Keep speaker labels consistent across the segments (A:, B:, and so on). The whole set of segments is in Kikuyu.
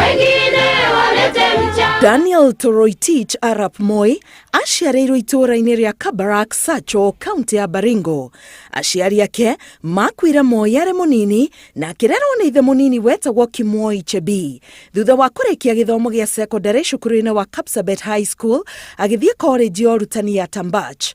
A: wengine walete mchanga. Daniel Toroitich Arap Moi aciarĩirwo itũũra-inĩ rĩa Kabarak Sacho, kaunti ya Baringo. Aciari ake makuire Moi arĩ mũnini na akĩrerwo nĩ ithe mũnini wetagwo Kimwoi Chebi. Thutha wa kũrĩkia gĩthomo gĩa sekondarĩ cukuru-inĩ wa Kapsabet High School, agĩthiĩ korenji ya ũrutani ya Tambach.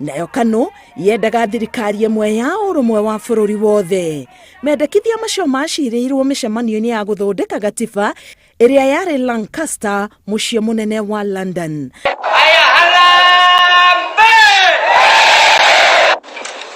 A: nayo kano yendaga thirikari ĩmwe ya ũrũmwe wa bũrũri wothe mendekithia macio macirĩirwo mĩcemanio-inĩ ya gũthondeka gatiba ĩrĩa yarĩ lancaster mũciĩ mũnene wa london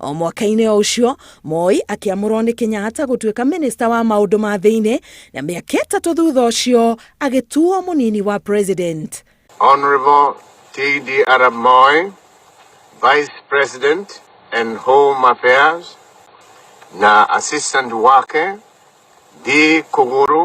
A: O mwaka-inĩ o ũcio, Moi akĩamũrwo nĩ Kenyatta gũtuĩka mĩnĩsta wa maũndũ ma thĩinĩ, na mĩaka ĩtatũ thutha ũcio agĩtuo mũnini wa president. Honourable
B: TD Arap Moi, Vice President and Home Affairs, na assistant wake Dee Kũgũrũ.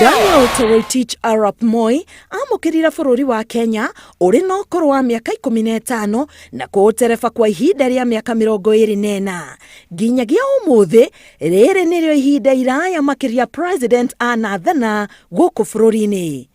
A: Daniel Toroitich Arap Moi amũkĩrire bũrũri wa Kenya ũrĩ na ũkũrũ wa mĩaka ikũmi na ĩtano na kũũtereba kwa ihinda rĩa mĩaka mĩrongo ĩrĩ na ĩna nginyagia ũmũthĩ rĩrĩ nĩrĩo ihinda iraya makĩria president anathana gũkũ bũrũri-inĩ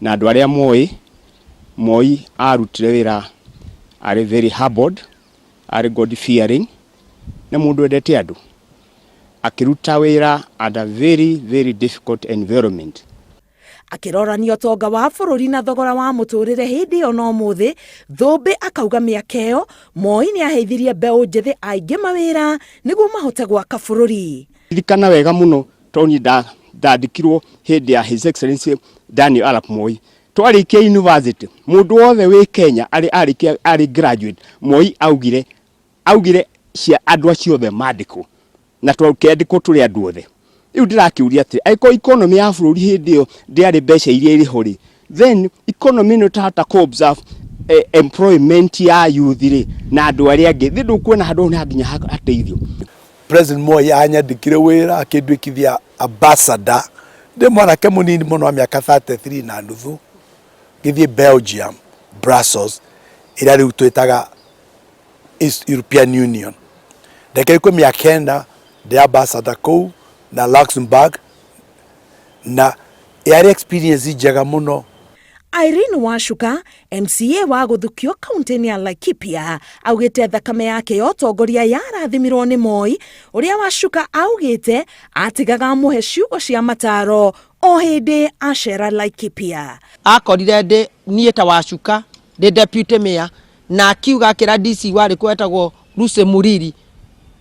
C: na andå arä a moä moi arutire wä ra arä very humbled arä god fearing nä må ndå wendete andå akä ruta wä ra under very very difficult environment akĩrorania
A: ũtonga wa bũrũri na thogora wa mũtũrĩre hĩndĩ ĩyo na ũmũthĩ thũmbĩ akauga mĩaka ĩyo moi nĩ aheithirie mbeũ njĩthĩ aingĩ mawĩra nĩguo mahote gwaka bũrũri ririkana wega
C: mũno tondũ niĩ nda- ndandĩkirwo hĩndĩ ya His Excellency Daniel Arap Moi. Twarĩkia university, mũndũ wothe wĩ Kenya arĩ arĩkia arĩ graduate, Moi augire augire cia andũ acio othe mandĩkwo na tũkendĩkwo tũrĩ andũ othe. Rĩu ndĩrakĩũria atĩ angĩkorwo economy ya bũrũri hĩndĩ ĩyo ndĩarĩ mbeca iria irĩ ho rĩ, then economy no tahota ku observe eh, employment ya youth ri na andu aria angi thi ndukuona handu hau ni hanginya ha- hateithio president
D: moi anyandikire wira akindwikithia ambassador ndi mwanake munini muno wa miaka 33 na nuthu ngithie belgium brussels ira riu twitaga East european union ndeke ikumi ya kenda ndi ambassador kuu na luxembourg na yarĩ experience njega mũno.
A: Irene Wacuka, MCA wa Gũthukio kaũntĩ-inĩ ya Laikipia, augĩte thakame yake ya ũtongoria yarathimirwo nĩ Moi, ũrĩa Wacuka augĩte atigaga amũhe ciugo cia mataro o hĩndĩ acera Laikipia. Akorire ndĩ
E: niĩ ta Wacuka ndĩ deputy mayor na akiuga akĩra DC warĩ kuo wetagwo Lucy Muriri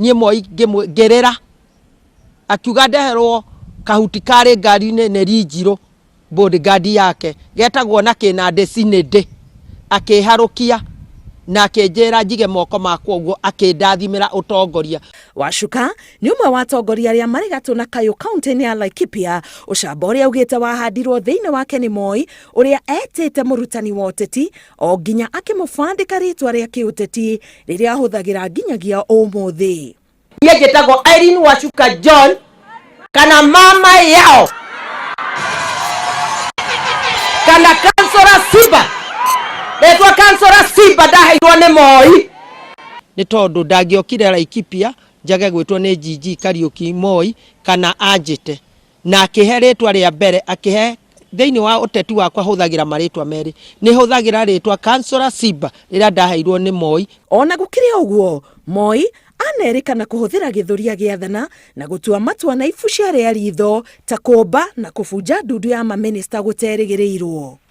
E: niĩ Moi ngĩmwĩ- ngĩrĩra akiuga ndeherwo kahuti karĩ ngari-inĩ nĩ Rinjirũ bodyguard yake getagwo na kĩnandĩ Cinĩndĩ akĩharũkia na akĩnjĩra njige moko makwa ũguo akĩndathimĩra ũtongoria. Wacuka
A: nĩ ũmwe wa atongoria arĩa marĩ gatũ na kayũ kaũntĩ-inĩ ya Laikipia, ũcamba ũrĩa augĩte wahandirwo thĩinĩ wake nĩ Moi ũrĩa etĩte mũrutani wa ũteti o nginya akĩmũbandĩka rĩtwa rĩa kĩũteti rĩrĩa ahũthagĩra nginyagia ũmũthĩ niä njä tagwo
E: irene wacuka john kana mama yao kana kansora simba retwa kansora simba ndaheirwo nä moi nä tondå ndangäokire laikipia njage gwä two nä njinji kariåki moi kana anjä te Na akĩhe rĩĩtwa rĩa mbere, akĩhe thĩinĩ wa ũteti wakwa hũthagĩra marĩĩtwa merĩ. Nĩ hũthagĩra rĩĩtwa Councillor Simba rĩrĩa ndaheirwo nĩ Moi. O na gũkĩrĩ ũguo,
A: Moi anerĩkana kũhũthĩra gĩthũri agĩathana na gũtua matua na ibu ciarĩ a riitho ta kũũmba na kũbunja ndundu ya mamĩnĩsta gũterĩgĩrĩirwo.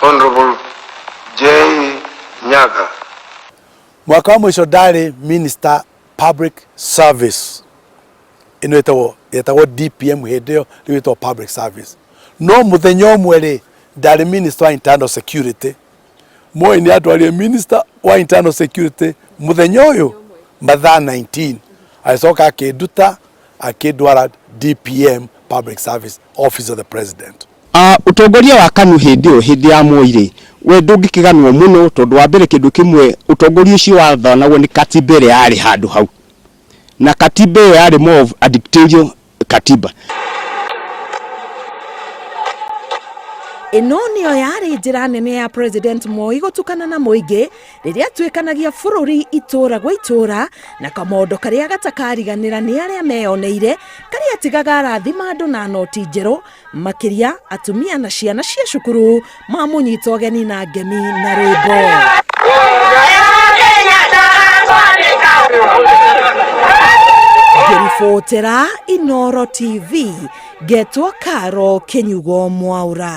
B: Honorable J. Nyaga.
D: mwaka wa mũico ndarĩ minister public service ĩno ĩtagwo yetagwo dpm hĩndĩ ĩyo rĩu ĩtagwo public service no mũthenya ũmwe rĩ ndarĩ minister wa internal security moi nĩ atwarire minister wa internal security mũthenya ũyũ mathaa 19 agĩcoka akĩnduta akĩndwara dpm public service office of the president Aah Ũtongoria wa
C: KANU hĩndĩ ĩyo, hĩndĩ ya Moi rĩ, we ndũngĩkĩganwo mũno tondũ wa mbere kĩndũ kĩmwe ũtongoria ũcio wathanagwo nĩ Katiba ĩrĩa yarĩ handũ hau. Na Katiba ĩyo yarĩ more of a dictatorial Katiba.
A: Ĩno nĩyo yarĩ njĩra nene ya President Moi gũtukana na mũingĩ rĩrĩa atuĩkanagia bũrũri itũũra gwa itũũra na kamondo karĩa gatakariganĩra nĩ arĩa meyoneire karĩa atigaga arathima andũ na noti njerũ makĩria atumia na ciana cia cukuru mamũnyita ũgeni na ngemi na rwĩmbo ngĩribotera inoro tv ngetwo karo kĩnyugo mwaura